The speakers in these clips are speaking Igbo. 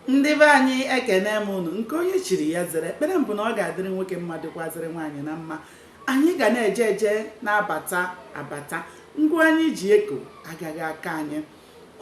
ndị be anyị ekenee m unu nke onye chiri ya zere ekpere m bụ na ọ ga-adịrị nwoke mma dịkwazịrị nwaanyị na mma anyị ga na-eje eje na-abata abata ngwa anyị ji eko agaghị akọ anyị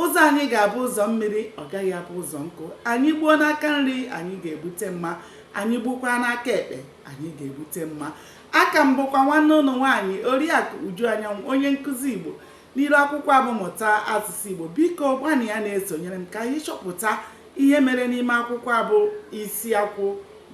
ụzọ anyị ga-abụ ụzọ mmiri ọ gaghị abụ ụzọ nkụ anyị gbuo n'aka nri anyị ga-egbute mma anyị gbukwa n'aka ekpe anyị ga-egbute mma aka m bụkwa nwanne unu nwaanyị oriakụ uju anyanwụ onye nkụzi igbo N'iru akwụkwọ a bụ Mụta Asụsụ Igbo, biko gbalịa na-esonyere m ka anyị chọpụta ihe mere n'ime akwụkwọ a bụ isi akwụ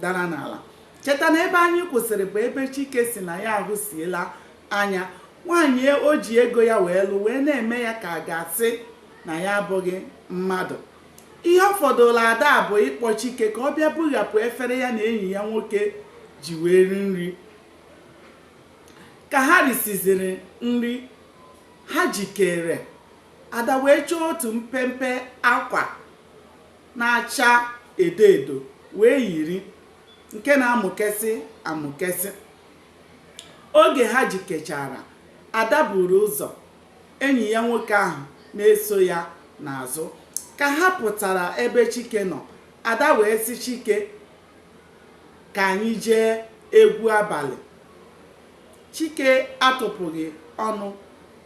dara n'ala. Cheta na ebe anyị kwụsịrị bụ ebe Chike si na ya ahụsiela anya. Nwaanyị o ji ego ya wee lụ wee na-eme ya ka a ga-asị na ya abụghị mmadụ. Ihe ọ fọdụrụ Ada bụ ịkpọ Chike ka ọ bịa bughapụ efere ya na enyi ya nwoke ji wee ri nri. Ka ha risiziri nri, ha jikere, Ada wee chọọ otu mpempe akwa na-acha edo edo wee yiri, nke na-amụkesị amụkesị. Oge ha jikechara, Ada buru ụzọ, enyi ya nwoke ahụ na-eso ya n'azụ. Ka ha pụtara ebe Chike nọ, Ada wee sị Chike, ka anyị jee egwu abalị. Chike atụpụghị ọnụ,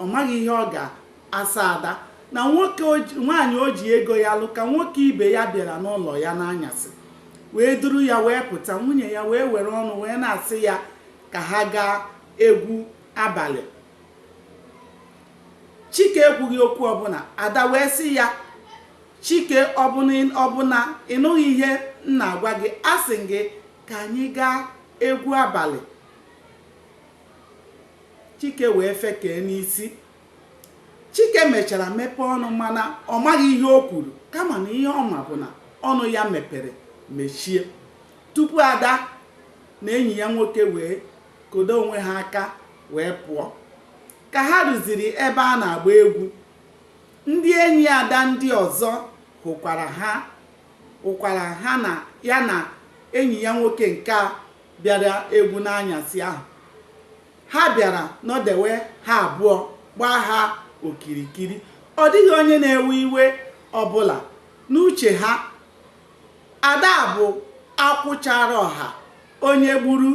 ọ maghị ihe ọ ga-asa Ada na nwaanyị o ji ego ya lụ ka nwoke ibe ya bịara n'ụlọ ya n'anyasị wee duru ya wee pụta nwunye ya wee were ọnụ wee na-asị ya ka ha gaa egwu abalị chike ekwughị okwu ọbụla ada wee sị ya Chike ọ bụ na ị nụghị ihe m na-agwa gị asị m gị ka anyị gaa egwu abalị Chike wee fekee n'isi Chike mechara mepee ọnụ mana ọ maghị ihe o kwuru kama na ihe ọ ma bụ na ọnụ ya mepere mechie tupu Ada na enyi ya nwoke wee kodo onwe ha aka wee pụọ ka ha ruziri ebe a na-agba egwu Ndị enyi Ada ndị ọzọ hụkwara ha hụkwara ha na ya na enyi ya nwoke nke a bịara egwu n'anyasị ahụ. Ha bịara nọdewe ha abụọ gbaa ha okirikiri. Ọ dịghị onye na-ewe iwe ọbụla. N'uche ha, Ada bụ akwụ chara ọha, onye gburu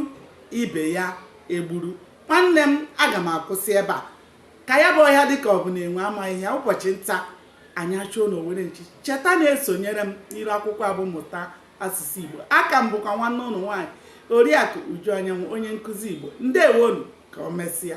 ibe ya egburu. Nwanne m, aga m akwụsị ebe a. ka ya bụ ọhịa dịka ọ bụ na enwe amaghị ya ụbọchị nta anyị achụọ n'owere nchi cheta na-esonyere m n'iru akwụkwọ a bụ mụta asụsụ igbo aka m bụkwa nwanne unu nwaanyị oriakụ uju anyanwụ onye nkụzi igbo ndewonu ka o mesịa